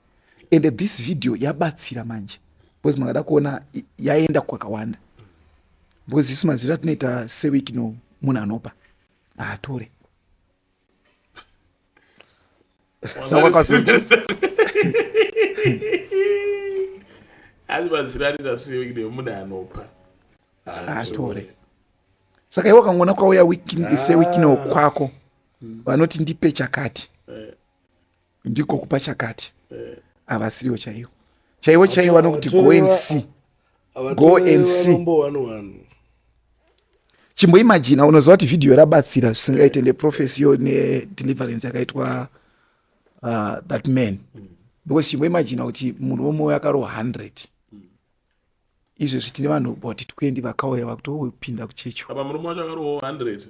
and this video yabatsira manje because mangada kuona yaenda kwakawanda because isu mazira tinoita seweek no munhu anopa haatore asi mazira anoita seweek no munhu anopa haatore saka iwe wakangoona kwauya sewikino ah. kwako hmm. vanoti ndipe chakati eh. ndiko kupa chakati eh. havasiriwo chaiwo chaiwo chaiwo vanokuti go and see go and see chimboimajina unoziva kuti vhidhiyo rabatsira zvisingaite neprofesi yo nedeliverance yakaitwa uh, that man because chimboimajina kuti munhu wemwoyo akarohwa 100 izvezvi tine vanhu boti 20 vakauya vakutopinda kuchechi apa murume wacho akarohwa 100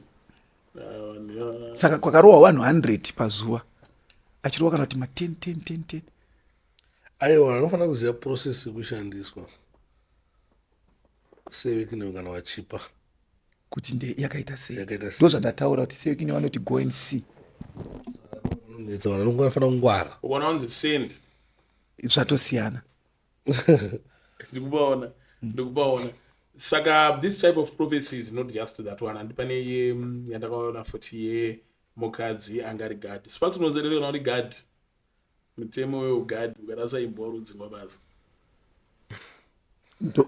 ah, saka kwakarohwa vanhu 100 pazuva achirohwa kana kuti ma 10 10 10 10 aiwa anofanira kuziva process yekushandiswa sevekinewe kana vachipa kuti nde yakaita sei Yakaita sei. ndo zvandataura kuti sevekinewe vanoti go and see vanonetsa vanhu vanongofanira kungwara ukaona wanzi send zvatosiyana ndikubaona ndikubaona saka this type of prophecy is not just that one handi pane iye mm, yandakaona futi ye mukadzi anga ari gad sipasi unozerere kana uri gad mutemo weugad ukarasa imbwa urudzingwa basa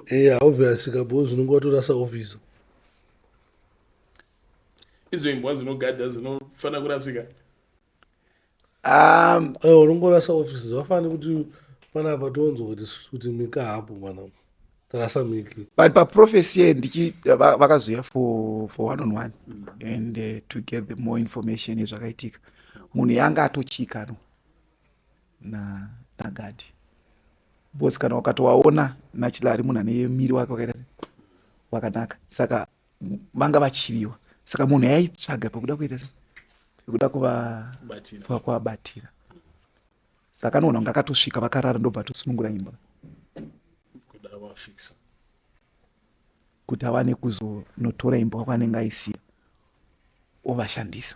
eya obvious kabhozi unenge watorasa office idzo imbwa dzinogadha dzinofanira kurasika um, eh, unongorasa office zvafani kuti panapa tonzwa kuti kuti mika hapo mwana tarasa miki but paprofesi ye ndichi vakazoya for, for one on one mm -hmm. and uh, to get the more information yezvakaitika munhu yanga atochikanwa na nagadi bcause kana wakatowaona nachilari munhu ane miri wake wakaita wakanaka saka vanga vachiviwa saka munhu yaitsvaga pekuda kuita se pekuda kuvabatira saka anoona kunge akatosvika vakarara ndobva atosunungura imba kuti awane kuzonotora imba kwakwanenge aisiya ovashandisa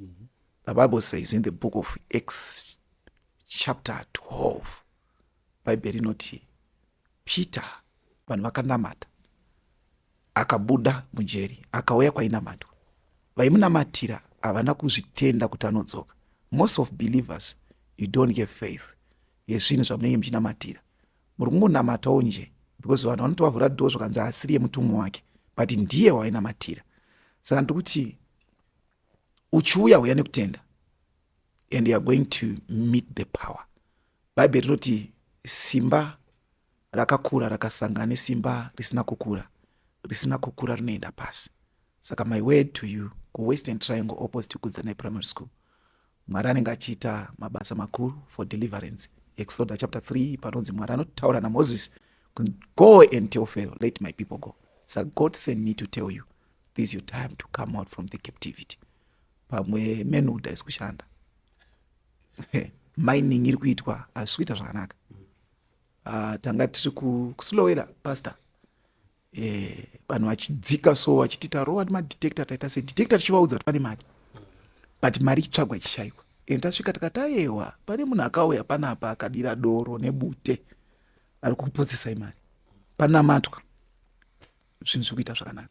mm -hmm. the bible says in the book of acts chapter 12 bhaibheri rinoti peter vanhu vakanamata akabuda mujeri akauya kwainamatwa vaimunamatira havana kuzvitenda kuti anodzoka most of believers you don't get faith yezvinhu zvamunenge muchinamatira muri kungonamatawo nje because vanhu vanotovavhura doo zvakanzi asiri yemutumwa wake but ndiye wainamatira saka ndikuti uchiuya uya nekutenda and youare going to meet the power bhaibheri rinoti simba rakakura rakasangana nesimba risina kukura risina kukura rinoenda pasi saka my word to you kuwestern triangle opposite kudzanai primary school Mwari anenge achiita mabasa makuru for deliverance. Exoda chapter 3 panonzi Mwari anotaura naMoses go and tell Pharaoh let my people go. Sa God send me to tell you this is your time to come out from the captivity. Pamwe menuda isi kushanda. Mining iri kuitwa hazvisi kuita zvakanaka. Uh, tanga tiri kuslowela pastor eh, vanhu vachidzika so vachiti tarowa nemadetector taita se detector tichivaudza kuti pane mari but mari ichitsvagwa ichishaiwa and tasvika tikatayewa pane munhu akauya panapa akadira doro nebute ari kukupotsesai mari panamatwa zvinhu zviri kuita zvakanaka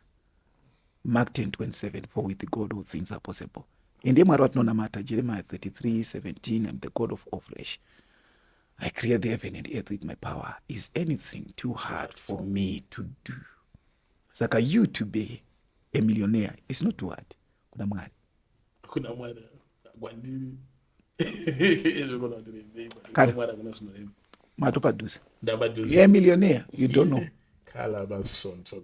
mark 10 27 for with god all things are possible ende mwari vatinonamata jeremiah 33 17 am the god of all flesh I create the heaven and earth with my power. Is anything too hard for me to do? Saka you to be a millionaire is not too hard. Kuna mwari. Kuna mwari. Gwandiri. Kana. Matopadusa. Ndapadusa. You're a millionaire. You don't know. Kala basonto.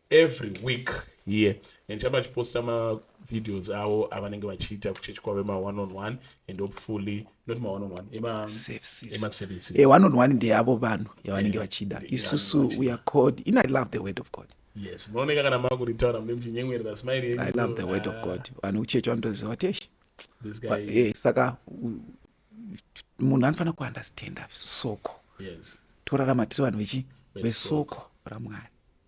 every week here and chamba achiposta mavideos avo avanenge vachiita kuchechi kwavo ema one on one and hopefully not ma one on one emaservices e eh, one on one ndeavo vanhu yavanenge eh, vachida isusu we are called in i love the word of god yes munooneka kana makuritaura mune muchinyemwerera smile yenyu i love the word of ah. god vanhu kuchechi vanotoziva kuti eshi eh, saka munhu anofanira kuunderstanda soko yes torarama tiri vanhu vechi vesoko ramwari